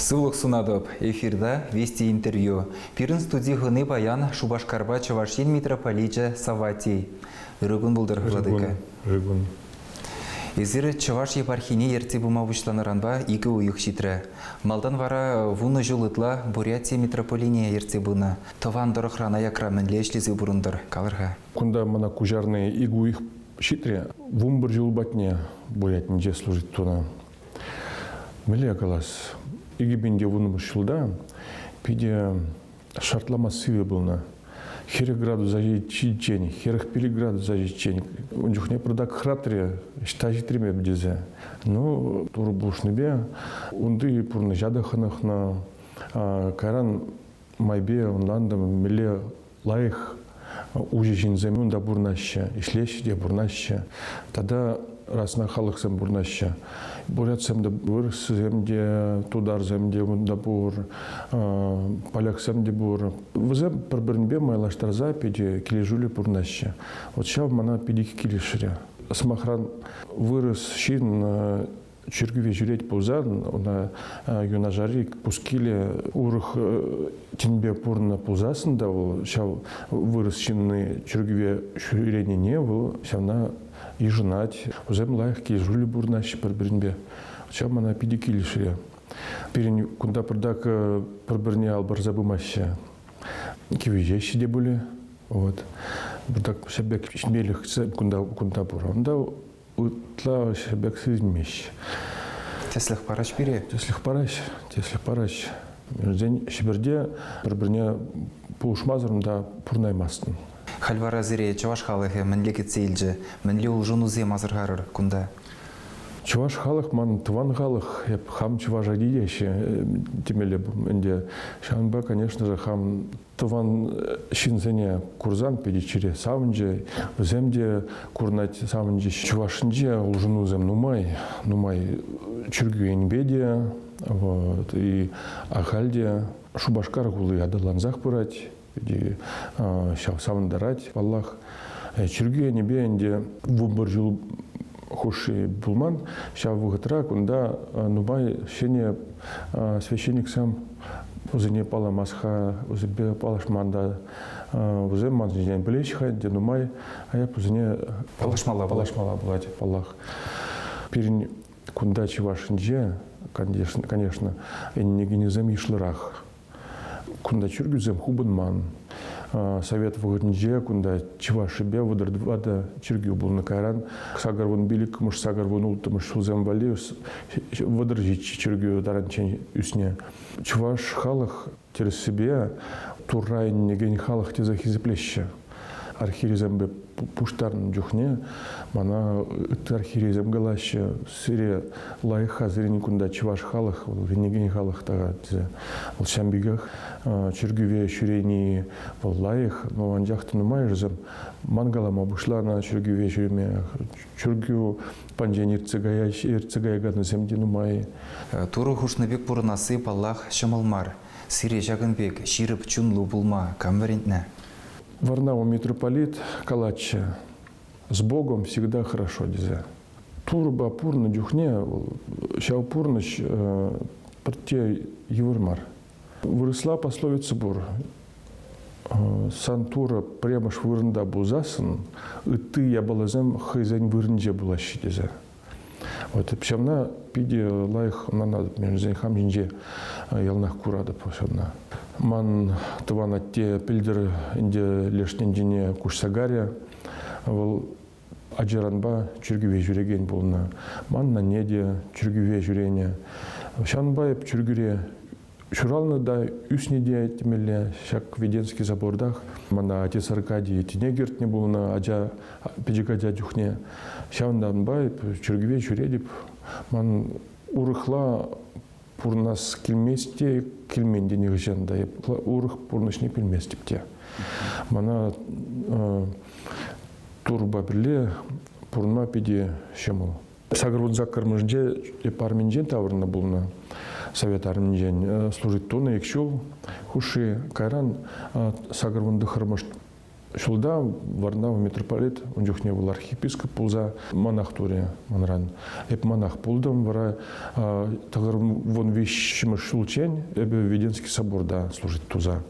Сывлӑх сунатӑп! Эфирта Вести интервью. Пирӗн студи хӑни паян Шупашкарпа Чӑваш Ен митрополичӗ Саватий. Ырӑ кун пултӑр, владыка. Ырӑ кун. Эсир Чӑваш епархине ертсе пыма пуҫланӑранпа икӗ уйӑх ҫитрӗ. Малтан вара вунӑ ҫул ытла Бурятия митрополине ертсе пынӑ. Тӑван тӑрӑхран аякра мӗнле ӗҫлесе пурӑнтӑр, калӑр-ха? Кунта мана куҫарнӑ Игуих ҫитрӗ, вумбӑр чул патне Бурятинче служить тунӑ. Мӗнле калас, икӗпенте вунпӑш ҫулта питӗ шартлама сивӗ пулнӑ. Хӗрӗх градуса ҫитиччен, хӗрӗх пилӗк градуса ҫитиччен ун чухне пӑртак хӑратрӗ, ҫта ҫитремерӗм тесе. Ну, турӑ пулӑшнипе унти пурнӑҫа та хӑнӑхнӑ. Кайран майпе ӑнлантӑм, мӗнле Лайӑх уҫӑ ҫынсем унта пурӑнаҫҫӗ, ӗҫлеҫҫӗ те пурӑнаҫҫӗ. Тата расна халӑхсем пурӑнаҫҫӗ. Бурятсем те пур, вырӑссем те, тутарсем те унта пур, поляксем те пур. Вӗсем пӗр-пӗринпе майлаштарса питӗ килӗшӳллӗ пурӑнаҫҫӗ. Вот ҫав мана питӗ килӗшрӗ. Сӑмахран, вырӑс ҫын Чиркӗве ҫӳрет пулсан, ӑна юнашари пускиле урӑх тӗнпе пурӑннӑ пулсассӑн та вӑл ҫав вырӑс ҫынни чиркӗве ҫӳренине вӑл ҫавна йышӑнать. Вӗсем лайӑх килӗшӳллӗ пурӑнаҫҫӗ пӗр-пӗринпе. Ҫав мана питӗ килӗшрӗ. Пирӗн кунта пӑртак пӗр-пӗрне ал парса пымаҫҫӗ. Кивӗҫеҫҫӗ те пулӗ. Вот. Пӑртак ҫӗр пек ҫитмелӗх кунта пур. Унта Ытла ӗҫе пек сисмест. Тӗслӗх параҫ пире? Тӗслӗх параҫ, тӗслӗх параҫ. Вӗсен Ҫӗпӗрте пӗр-пӗрне пулӑшмасӑрӑн та пурӑнаймастӑн. Халь вара сире чӑваш халӑхӗ мӗнле кӗтсе илчӗ, мӗнле улшӑнусем асӑрхарӑр кунта? Чӑваш халӑх ман тӑван халӑх, эп хам чӑваша килеҫҫӗ темелле ӗнтӗ. Ҫавӑнпа, конечно же, хам Тӑван ҫынсене курсан питӗ чире савӑнчӗ. Вӗсем те курӑнать савӑнчӗҫ. Чӑвашсенче улшӑнусем нумай, нумай чиркӳ енпе те, вот, и ахаль те Шупашкар хули аталансах пырать, питӗ ҫав савӑнтарать, паллах. Чиркӳ енӗпе ӗнтӗ вӑпӑр ҫул хушши пулман. Ҫав вӑхӑтра кунта нумай ҫӗнӗ священниксем вӗсене паламас-ха, вӗсемпе паллашман та. Вӗсем ман ҫинчен пӗлеҫ-ха ӗнтӗ нумай, а эп вӗсене паллашмалла паллашмалла пулать, паллах. Пирӗн кунта Чӑвашӗнче, конечно, конечно, ӗненекенӗсем йышлӑрах. Кунта чиркӳсем хупӑнман. Совет вӑхӑтӗнче кунта Чӑвашӗпе вӑтӑр тӑватӑ чиркӳ пулнӑ. Кайран сакӑр вун пил иккӗмӗш, сакӑр вун улттӑмӗш ҫулсем валли вӑтӑр ҫиччӗ чиркӳ таранччен ӳснӗ. Чӑваш халӑх тӗрӗссипе Турра ӗненекен халӑх тесе хисеплеҫҫӗ. архивӗсемпе пуҫтарнӑ чухне мана ытти архивӗсем калаҫҫӗ, сире лайӑхха сирӗн кунта чӑваш халӑх, вӗренекен халӑх тата тесе. Вӑл ҫam пекех чиркӗве ҫӳрени вӑл лайӑх, но анчах та нумайӑшӗсем ман калама пуҫланӑ чиркӗве ҫӳреме. Чиркӳ панчен ертсе каяҫ, ертсе каяканӗсем те нумай. Турӑ хушнӑ пек пурӑнасси, паллах, ҫӑмӑл мар. Сире ҫакӑн пек ҫирӗп чунлӑ пулма кам вӗрентнӗ? Варнава митрополит калатчӗ, с Богом всегда хорошо тесе. Турӑпа пурнӑ чухне ҫав пурнӑҫ пӗртте йывӑр мар. Вырӑсла пословица пур. Сан Турӑ премӗш вырӑнта пулсассӑн ытти япаласем хӑйсен вырӑнче пулаҫҫӗ тесе. Вот ҫавна питӗ лайӑх манатӑп, мен вӗсен хам ҫинче яланах куратӑп ҫавна. Ман тӑван атте пӗлтӗр ӗнтӗ леш тӗнчене куҫса карӗ. Вӑл ачаранпа чиркӗве ҫӳрекен пулнӑ. Манна те чиркӗве ҫӳренӗ. Ҫавӑнпа эп чиркӳре Ҫуралнӑ та ӳснӗ те темелле. Ҫак Веденский собортах мана отец Аркадий тӗне кӗртнӗ пулнӑ ача, пӗчӗк ача чухне. Ҫавӑнтанпа чиркӗве ҫӳретӗп. Ман урӑхла пурӑнас килмест те, килмен те нихӑҫан та. Урӑх пурнӑҫне пӗлместӗп те. Мана турпа пӗрле пурӑнма питӗ ҫӑмӑл. Сакӑрвун саккӑрмӗшӗнче эп арминчен таврӑннӑ пулнӑ. Совет арминчен э, служить тунӑ ик ҫул хушши. Кайран э, сакӑрвун тӑхӑрмӗш ҫулта Варнав митрополит, ун чухне вӑл архиепископ пулса монах турӗ манран. Эп монах пултӑм, вара тӑхӑрвун виҫҫӗмӗш ҫулччен эпӗ Веденский соборта служить туса.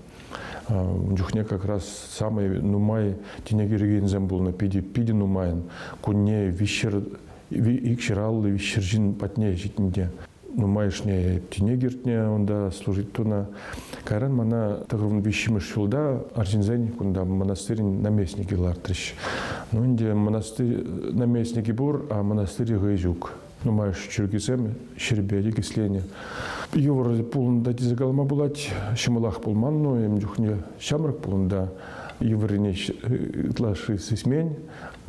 Ун чухне как раз самый нумай тинех ӳркенсем пулнӑ, питӗ питӗ нумайӑн. Кунне виҫҫӗр икҫӗр аллӑ виҫҫӗр ҫын патне ҫитнӗ те нумайӑшне тинех иртнӗ унта служить тунӑ. Кайран мана тӑхӑрмӗн виҫҫӗмӗш ҫулта арҫынсен кунта монастырӗн наместникӗ лартрӗҫ. Ну ӗнтӗ монастырь наместникӗ пур, а монастырь хӑй ҫук. Нумай чӗлхесем ҫӗрпе никӗсленӗ. Йывӑр пулӑнта тесе калама пулать. Ҫӑмӑлах пулман, но ем чухне ҫамрӑк пулӑнта йывӑррине ытлашши сисмен.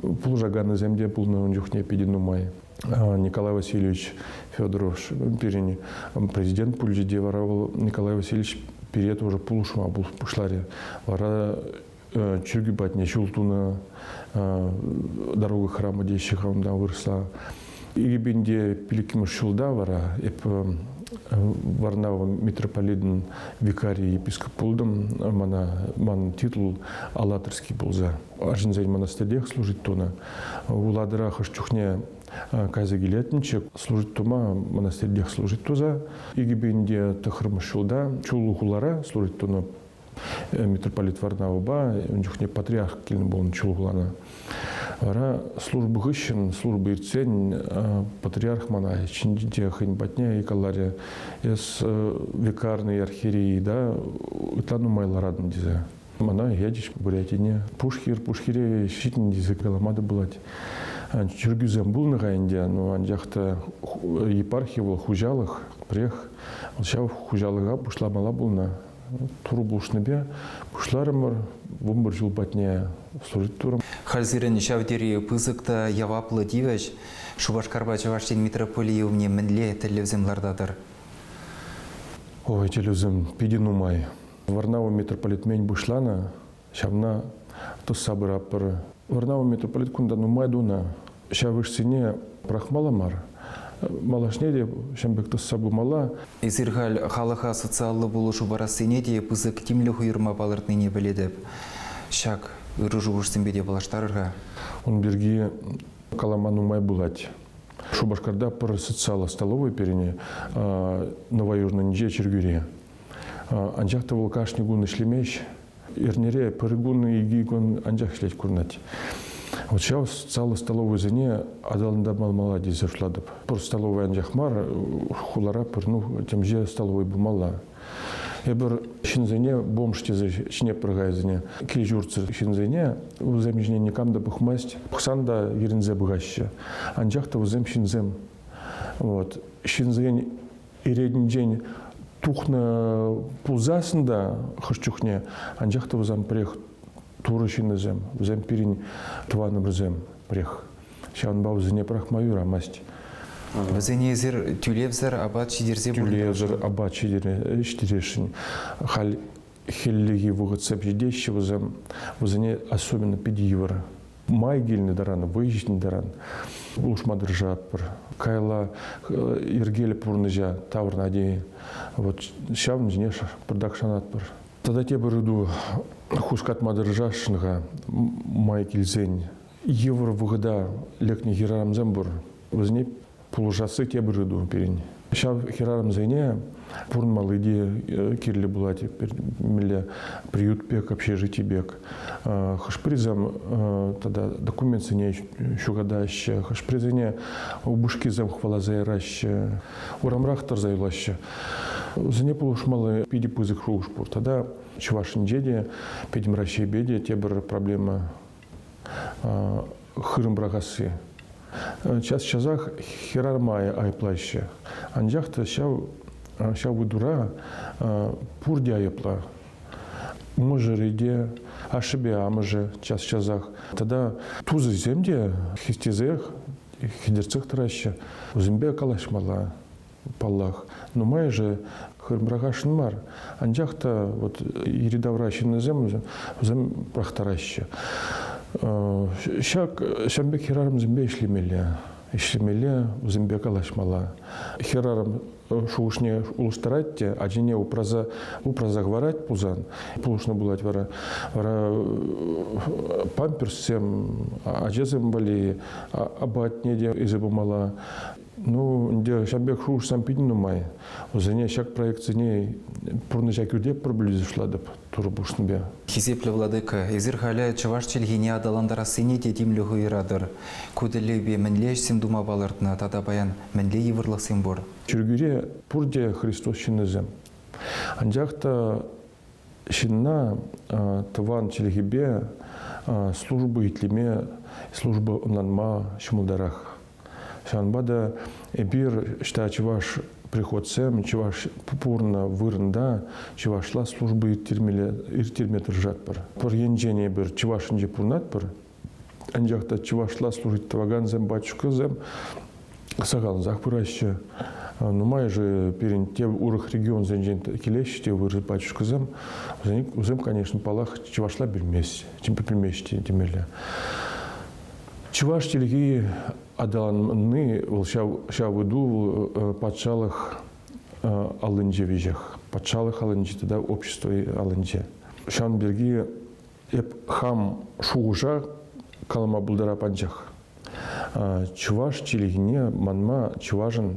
Пулӑшаканӗсем те пулнӑ ун чухне питӗ нумай. Николай Васильевич Федоров пирӗн президент пулчӗ те вара вӑл Николай Васильевич пире тоже пулӑшма пуҫларӗ. Вара чиркӳ патне ҫул тунӑ, дорога храма теҫҫӗ-ха унтан вырӑсла. Ирпенте пилӗкмӗш ҫулта вара эп Варнава митрополитӑн викарийӗ епископ пултӑм. Мана, манӑн титул Алатырский пулса. Арҫынсен монастырьех служить тунӑ. Улатӑра хӑш чухне кайса килетӗнччӗ, служить тума монастырьех служить туса. Икӗпенте тӑхӑрмӗш ҫулта Чуллу хулара служить тунӑ митрополит Варнавӑпа ун чухне патриарх килнӗ пулнӑ чулхулана. Вара служба хыҫҫӑн, служба иртсен, патриарх мана ҫинче хӑйӗн патне икаларӗ, эс векарный архиерей да ытла нумайларатӑн тесе. Мана ячӗҫ Бурятине. Пушхир, Пушхире ҫитӗн тесе калама та пулать. Чиркӳсем пулнӑ-ха ӗнтӗ, но анчах та епархи вӑл хуҫалӑх, пӗрех. Ҫав хуҫалӑха пуҫламала пулнӑ. Турӑ пулӑшнипе пуҫларӑмӑр. Вунпӗр ҫул патне служить турӑм. Халь сирӗн ҫав тери пысӑк та яваплӑ тивӗҫ. Шупашкарпа Чӑваш Ен митрополийӗ умне мӗнле тӗллевсем лартатӑр? Ой, тӗллевсем питӗ нумай. Варнава митрополитмен пуҫланӑ ҫавна тӑсса пыратпӑр. Вӑрнар митрополит кунта нумай тунӑ, ҫав ӑшсене пӑрахмалла мар, малашне те ҫын пек тӑсса пымалла. Эсир халь халӑха социаллӑ пулӑшу парассине те пысӑк тимлӗх уйӑрма палӑртнине пӗлетӗп. Ҫак ырӑ-шухӑшсемпе те паллаштарӑр-ха. Ун пирки калама нумай пулать. Шупашкарта пӗр социаллӑ столовӑй пирӗн Новоюрнӑнче чиркӳре. Анчах та вӑл кашни кун ӗҫлемест, Эрнере пӗр кун, икӗ кун анчах ӗҫлет курӑнать. Вот ҫав зала столовӑйсене аталантарма малла тесе шутлатӑп. Пӗр столовӑй анчах мар, хулара пӗр ну, темиҫе столовӑй пулмалла. Эпир ҫынсене бомж тесе ҫине пӑрхайсене, кил-ҫуртсӑр ҫынсене вӗсем ҫине никам та пӑхмасть, пӑхсан та вирӗнсе пыхаҫҫӗ. Анчах та вӗсем ҫынсем. Вот. Ҫынсен Иретӗнчен тухнӑ пулсассӑн та хӑш чухне, анчах та вӑсан пӗрех Турӑ ҫыннисем, вӗсем пирӗн тӑванӑмӑрсем пӗрех. Ҫавӑнпа вӗсене пӑрахма юрамасть. Вӗсене эсир тӳлевсӗр апат ҫитерсе Тӳлевсӗр апат ҫитересшӗн. Халь хӗллехи вӑхӑт сепчетеҫҫӗ вӗсем. Вӗсене особенно питӗ йывӑр. май килнӗ таран, вӑй ҫитнӗ таран улшма тӑрӑшатпӑр. Каялла йӗркеллӗ пурнӑҫа тавӑрнӑ тейӗн. Вот ҫавӑн ҫине пӑртак шанатпӑр. Тата тепӗр ыйту хускатма тӑрӑшасшӑн-ха май килсен. Йывӑр вӑхӑта лекнӗ хӗрарӑмсем пур. Вӗсене Пулӑшасси тепӗр ыйту пирӗн. Ҫав хӗрарӑмсене пурӑнмалли те э, кирлӗ пулать. Мӗнле приют пек, общежитий пек. Э, хӑш-пӗрисем э, тата документсене ҫухатаҫҫӗ, хӑш-пӗрисене упӑшкисем хӑваласа яраҫҫӗ, урамрах тӑрса юлаҫҫӗ. Вӗсене пулӑшмалли питӗ пысӑк шухӑш пур. Тата Чӑваш Енче те, пӗтӗм Раҫҫейпе те тепӗр проблема хырӑм пӑрахасси. Час-часах хӗрармая айӑплаҫҫӗ. Анчах та ҫав, ҫав вытура пурте айӑпла. Мӑшӑрӗ те, ашшӗпе амӑшӗ час-часах. Тата тусӗсем те хистесех хӗтӗртсех тӑраҫҫӗ. Вӗсемпе калаҫмалла, Паллах, нумайӑшӗ хырӑмрахашӑн мар, анчах та вот йӗри-тавра ҫыннисем вӗсем пӑрахтараҫҫӗ. Ҫак ҫын пек хӗрарӑмсемпе ӗҫлемелле, ӗҫлемелле, вӗсемпе калаҫмалла. Хӗрарӑм шухӑшне улӑштарать те ачине упраса упраса хӑварать пулсан, пулӑшнӑ пулать вара. Вара памперссем, ачасем валли апатне те илсе пымалла. Ну, ӗнтӗ ҫав пек шухӑшсем питӗ нумай. Вӗсене ҫак проектсене пурнӑҫа кӳртеппӗр пӗлӳ пуҫлатӑп Турӑ пуҫлӑмӗпе. Хисеплӗ владыка, эсир халӗ чӑваш чӗлхине аталантарассине те тимлӗх уйӑратӑр. Ку тӗллевпе мӗнле ӗҫсем тума палӑртнӑ тата паян мӗнле йывӑрлӑхсем пур? Чиркӳре пурте Христос ҫыннисем. Анчах та ҫынна тӑван чӗлхепе служба итлеме, служба ӑнланма ҫӑмӑлтарах. Ҫавӑнпа та эпир, ӑҫта чӑваш приходсем, чӑваш пурӑннӑ вырӑнта чӑвашла служба ирттерме, ирттерме тӑрӑшатпӑр. Пӗр енчен эпир чӑвашӗнче пурӑнатпӑр, Анчах та чӑвашла служить тӑвакансем, батюшкасем сахаллансах пыраҫҫӗ. Нумайӑшӗ пирӗн те урӑх регионсенчен килеҫҫӗ те вырӑс батюшкасем. Вӗсем, конечно, паллах, чӑвашла білмест, білмест темелле. Чӑваш чӗлхи аталанни вӑл ҫав ҫав ыйту патшалӑх аллинче веҫех. Патшалӑх аллинче тата общество аллинче. Ҫавӑн пирки Эп хам шухӑша калама пултарап анчах. Чӑваш чӗлхине манма чӑвашӑн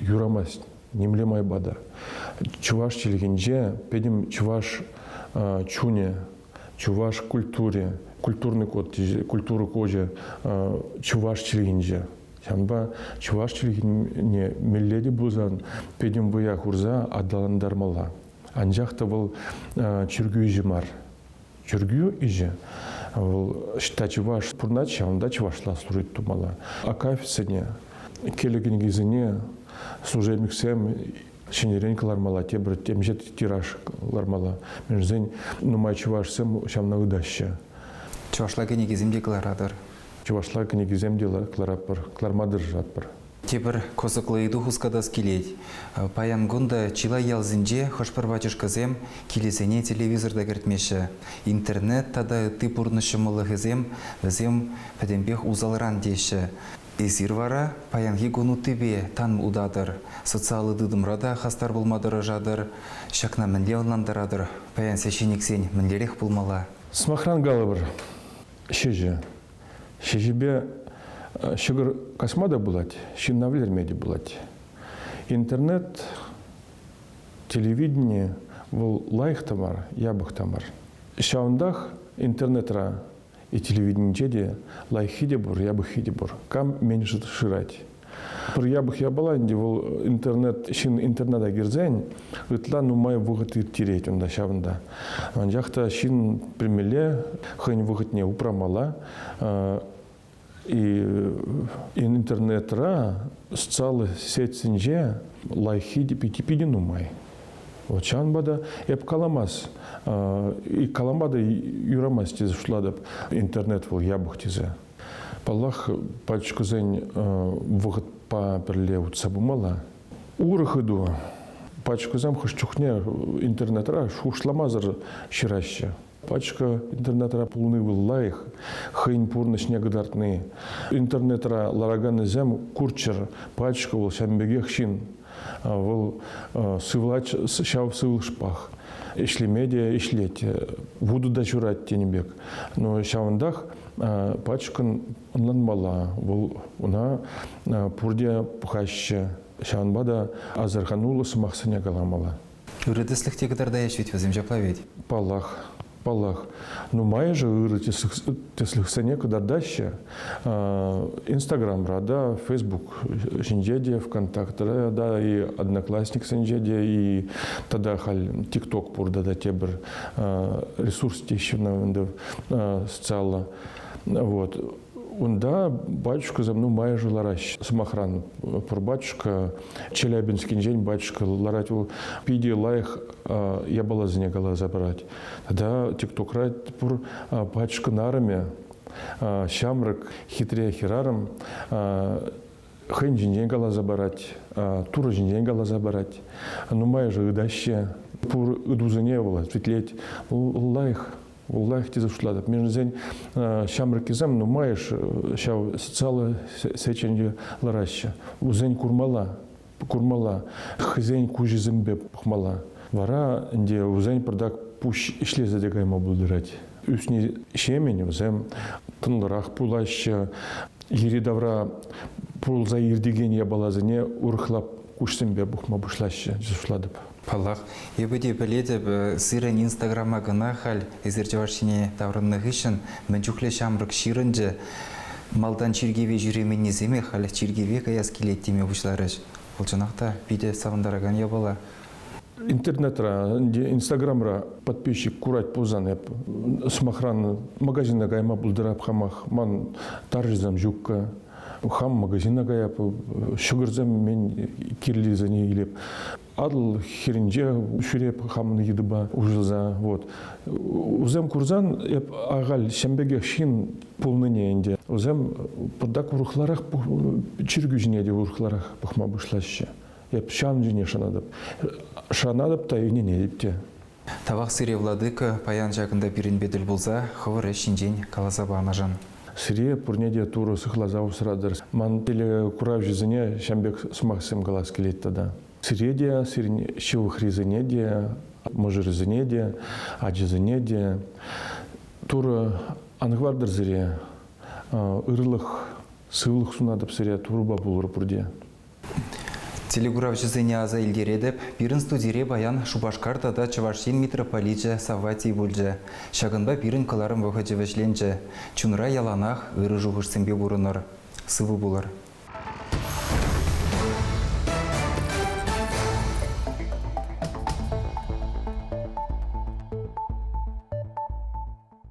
юрамасть нимле майпа та. Чӑваш чӗлхинче пӗтӗм чӑваш чунӗ, чӑваш культури, культурный код, культура кочӗ чӑваш чӗлхинче. Ҫавӑнпа чӑваш чӗлхине мелле те пулсан пӗтӗм вӑя хурса аталантармалла. Анчах та вӑл чиркӳ ӗҫӗ мар. Чиркӳ ӗҫӗ вӑл ӑҫта чӑваш пурӑнать, ҫавӑнта чӑвашла служить тумалла. Акафисене, кӗлӗ кӗнекисене служебниксем ҫӗнӗрен кӑлармалла, тепӗр темиҫе тираж кӑлармалла. Мӗншӗн нумай чӑвашсем ҫавна ытаҫҫӗ. Чӑвашла кӗнекесем те кӑларатӑр. Чӑвашла кӗнекесем те кӑларатпӑр, кӑларма тӑрӑшатпӑр. Тепӗр кӑсӑклӑ ыйту хускатас килет. Паян кун та чылай ялсенче хӑш-пӗр батюшкӑсем килӗсене телевизор та кӗртмеҫҫӗ. Интернет тата ытти пурнӑҫ ҫӑмӑллӑхӗсем вӗсем пӗтӗмпех усалран теҫҫӗ. Эсир вара паянхи кун уттипе тан утатӑр, социаллӑ тытӑмра та хастар пулма тӑрӑшатӑр. Ҫакна мӗнле ӑнлантаратӑр, паян священниксен мӗнлерех пулмалла? Сӑмахран калӑпӑр, ҫӗҫӗ. Ҫӗҫӗпе ҫӑкӑр касма та пулать, ҫынна вӗлерме те пулать. Интернет, телевидени вӑл лайӑх та мар, япӑх та мар. Ҫавӑнтах интернетра и телевиденинче те лайӑххи те пур, япӑххи те пур. Кам меньше шырать, Пӗр япӑх япала ӗнтӗ вӑл интернет ҫын интернета кӗрсен ытла нумай вӑхӑт ирттерет унта ҫавӑнта. Анчах та ҫын пӗлмелле хӑйӗн вӑхӑтне упрамалла. Интернетра социаллӑ сетьсенче лайӑххи питӗ нумай. Вот ҫавӑнпа та эп каламас, калама та юрамасть тесе шутлатӑп. Интернет вӑл япӑх тесе. Паллах, пачкӑсен вӑхӑтпа пӗрле утса пымалла. Урӑх ыйту. Пачкӑсем хӑш чухне интернетра шухӑшламасӑр ҫыраҫҫӗ. Пачка интернетра пулни вӑл лайӑх, хӑйӗн пурнӑҫне кӑтартни. Интернетра лараканӗсем курччӑр, пачка вӑл ҫавӑн пекех ҫын. Вӑл сывлать ҫав сывлӑшпах. Ӗҫлеме те ӗҫлет, вутӑ та ҫурать тенӗ пек. Но ҫавӑнтах пачкӑн ӑнланмалла. Вӑл ӑна пурте пӑхаҫҫӗ. Ҫавӑнпа та асӑрхануллӑ сӑмахсене каламалла. Ырӑ тӗслӗх те кӑтартаҫҫӗ вӗт вӗсем ҫапла вӗт. Паллах, паллах. Нумайӑшӗ ырӑ тӗслӗхсене кӑтартаҫҫӗ. Инстаграмра та, Фейсбук ҫинче те, ВКонтактра та, и Одноклассниксенче те, и тата халь ТикТок пур тата тепӗр ресурс теҫҫӗ на ӗнтӗ социаллӑ. Вот. Унта батюшкӑсем нумайӑшӗ лараҫҫӗ. Сӑмахран, пӗр батюшка Челябинскинчен батюшка ларать, вӑл питӗ лайӑх япаласене каласа парать. Тата ТикТокра пур батюшкан арӑмӗ, ҫамрӑк хитре хӗрарӑм хӑйӗн ҫинчен каласа парать, Турӑ ҫинчен каласа парать. Нумайӑшӗ ытаҫҫӗ. Пур ытусене вӑл ответлет. Вӑл лайӑх лайӑх тесе шутлатӑп. Мӗншӗн э, ҫамрӑккисем нумайӑш э, ҫав социаллӑ сеченье лараҫҫӗ. Вӗсен курмалла, курмалла, хӑйсен куҫӗсемпе пӑхмалла. Вара ӗнтӗ вӗсен пӑртак пуҫ ӗҫлесе те кайма пултарать. Ӳсни ҫемӗн вӗсем тӑнлӑрах пулаҫҫӗ. Йӗри-тавра пулса иртекен япаласене урӑхла куҫсемпе пӑхма пуҫлаҫҫӗ, шутлатӑп. Паллах, эпӗ те пӗлетӗп, сирӗн Инстаграма кӑна халь эсир чӑваш ене таврӑннӑ хыҫҫӑн мӗн чухлӗ ҫамрӑк ҫырӑнчӗ, малтан чиркӗве ҫӳременнисемех халӗ чиркӗве каяс килет теме пуҫларӗҫ. Вӑл чӑнах та питӗ савӑнтаракан япала. Интернетра, Инстаграмра подписчик курать пулсан эп сӑмахран магазина кайма пултарап хамах, ман тарҫӑсем ҫукка. хам магазина кая ҫӑкӑрсем мен кирлисене илеп Атӑл хирӗнче ҫӳреп хамӑн йытӑпа уҫӑлса вот. Усем курсан эп ахаль ҫем пекех ҫын пулнине ӗнтӗ. Усем пӑртак урӑхларах чиркӳ ҫине те урӑхларах пӑхма пуҫлаҫҫӗ. Эп ҫансене шанатӑп. Шанатӑп та, ӗненетӗп те. Тавах сире, владыка, паян ҫакӑнта пирӗнпе тӗл пулса хӑвӑр ӗҫ ҫинчен каласа панӑшӑн. Сире пурне те Турӑ сыхласа усратӑр. Ман телекуравҫӑсене ҫам пек сӑмахсем калас килет тата. Сире те, сирӗн ҫывӑхрисене те, мӑшӑрӗсене те, ачасене те Турӑ ан хӑвартӑр сире. Ырлӑх, сывлӑх сунатӑп сире, Турӑпа пулӑр пурте. Телекуравҫӑсене аса илтеретӗп, пирӗн студире паян Шупашкар тата Чӑваш Ен митрополичӗ Савватий пулчӗ. Ҫакӑнпа пирӗн кӑларӑм вӑхӑчӗ вӗҫленчӗ. Чунра яланах ырӑ шухӑшсемпе пурӑнӑр, сывӑ пулӑр.